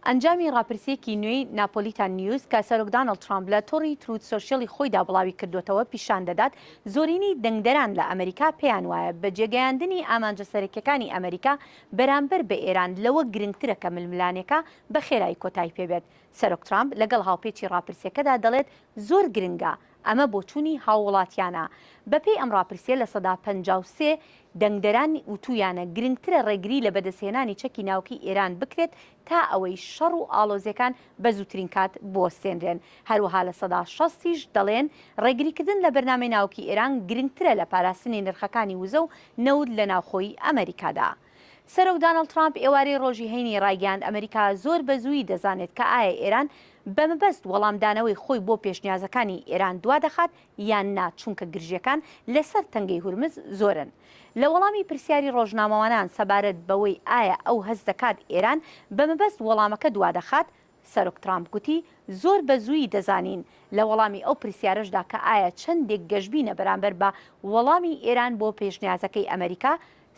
ئەنجامی ڕاپرسییەکی نوێی ناپۆلیتان نیوز کە سەرۆک دانڵد ترامپ لە تۆڕی تروت سۆشیەلی خۆیدا بڵاوی کردووەتەوە پیشان دەدات زۆرینەی دەنگدەران لە ئەمەریکا پێیان وایە بەجێگەیاندنی ئامانجە سەرەکیەکانی ئەمەریکا بەرامبەر بە ئێران لەوە گرنگترە کە ململانێکە بە خێرایی کۆتایی پێبێت. سەرۆک ترامپ لەگەڵ هاوپێچی ڕاپرسیەکەدا دەڵێت زۆر گرنگە ئەمە بۆچوونی هاووڵاتیانە. بەپێی ئەم ڕاپرسیە لە سەدا پەنجا و سێ دەنگدەران وتوویانە گرنگترە ڕێگری لە بەدەستهێنانی چەکی ناوکیی ئێران بکرێت تا ئەوەی شەڕ و ئاڵۆزیەکان بە زووترین کات بوەستێنرێن. هەروەها لە سەدا شەست یش دەڵێن ڕێگریکردن لە بەرنامەی ناوکیی ئێران گرنگترە لە پاراستنی نرخەکانی وزە و نەوت لە ناوخۆی ئەمەریکادا. سەرۆک دانڵد ترامپ ئێوارەی ڕۆژی هەینی ڕایگەیاند ئەمەریکا زۆر بە زوویی دەزانێت کە ئایا ئێران بە مەبەست وەڵامدانەوەی خۆی بۆ پێشنیازەکانی ئێران دوا دەخات یان نا چونکە گرژییەکان لە سەر تەنگەی هورمز زۆرن. لە وەڵامی پرسیاری ڕۆژنامەوانان سەبارەت بەوەی ئایا ئەو هەست دەکات ئێران بە مەبەست وەڵامەکە دوا دەخات، سەرۆک ترامپ گوتی زۆر بە زوویی دەزانین، لە وەڵامی ئەو پرسیارەشدا کە ئایا چەندێک گەشبینە بەرامبەر بە وەڵامی ئێران بۆ پێشنیازەکەی ئەمەریکا،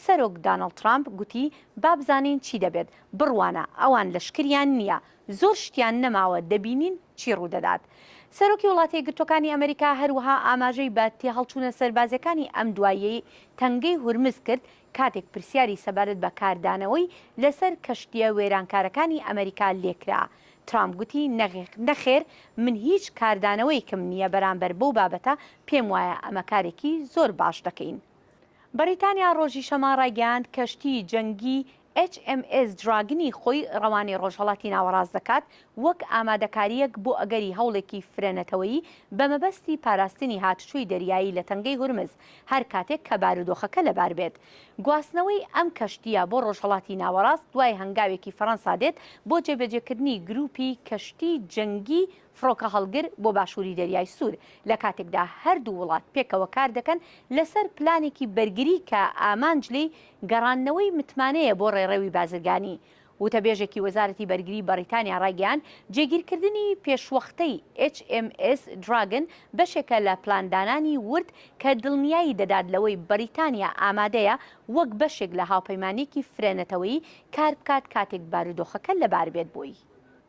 سەرۆک دانڵد ترامپ گوتی با بزانین چی دەبێت، بڕوانە ئەوان لەشکریان نییە، زۆر شتیان نەماوە دەبینین چی ڕوودەدات. سەرۆکی وڵاتێکگرتووەکانی ئەمەریکا هەروەها ئاماژەی بە تێهەڵچوونە سەربازییەکانی ئەم دواییەی تەنگەی هورمز کرد کاتێک پرسیاری سەبارەت بە کاردانەوەی لەسەر کەشتییە وێرانکارەکانی ئەمەریکا لێکرا، ترامپ گوتی، نەخێر، من هیچ کاردانەوەیەکم نییە بەرامبەر بەو بابەتە، پێموایە ئەمە کارێکی زۆر باش دەکەین. بەریتانیا ڕۆژی شەممە ڕایگەیاند کەشتیی جەنگی ئێچ ئێم ئێس دراگنی خۆی ڕەوانەی ڕۆژهەڵاتی ناوەڕاست دەکات وەک ئامادەکارییەک بۆ ئەگەری هەوڵێکی فرەنەتەوەیی بە مەبەستی پاراستنی هاتوچۆی دەریایی لە تەنگەی هورمز هەر کاتێک کە بارودۆخەکە لەبار بێت. گواستنەوەی ئەم کەشتییە بۆ ڕۆژهەڵاتی ناوەڕاست دوای هەنگاوێکی فەرەنسا دێت بۆ جێبەجێکردنی گرووپی کەشتی جەنگی فڕۆکەهەڵگر بۆ باشووری دەریای سوور لە کاتێکدا هەردوو وڵات پێکەوە کار دەکەن لەسەر پلانێکی بەرگری کە ئامانج لێی گەڕاندنەوەی متمانەیە بۆ ڕێڕەوی بازرگانی وتەبێژێکی وەزارەتی بەرگری بەڕیتانیا ڕایگەیاند، جێگیرکردنی پێشوەختەی ئێچ ئێم ئێس دراگن بەشێکە لە پلاندانانی ورد کە دڵنیایی دەدات لەوەی بەریتانیا ئامادەیە وەک بەشێک لە هاوپەیمانییەکی فرەنەتەوەیی کاربکات کاتێک بارودۆخەکە لەباربێت بۆی.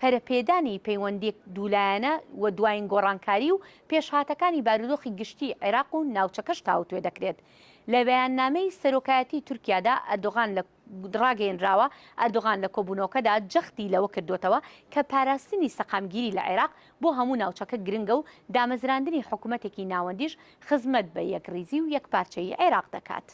پەرەپێدانی پەیوەندییەک دوولایەنە و دوایین گۆڕانکاری و پێشهاتەکانی بارودۆخی گشتیی عێراق و ناوچەکەش تاوتوێ دەکرێت. لە بەیاننامەی سەرۆکایەتیی تورکیادا ئەردۆغان لە ڕاگەیێنراوە، ئەردۆغان لە کۆبوونەوەکەدا جەختی لەوە کردووەتەوە کە پاراستنی سەقامگیری لە عێراق بۆ هەموو ناوچەکە گرنگە و دامەزراندنی حکومەتێکی ناوەندیش خزمەت بە یەکڕیزی و یەکپارچەیی عێراق دەکات.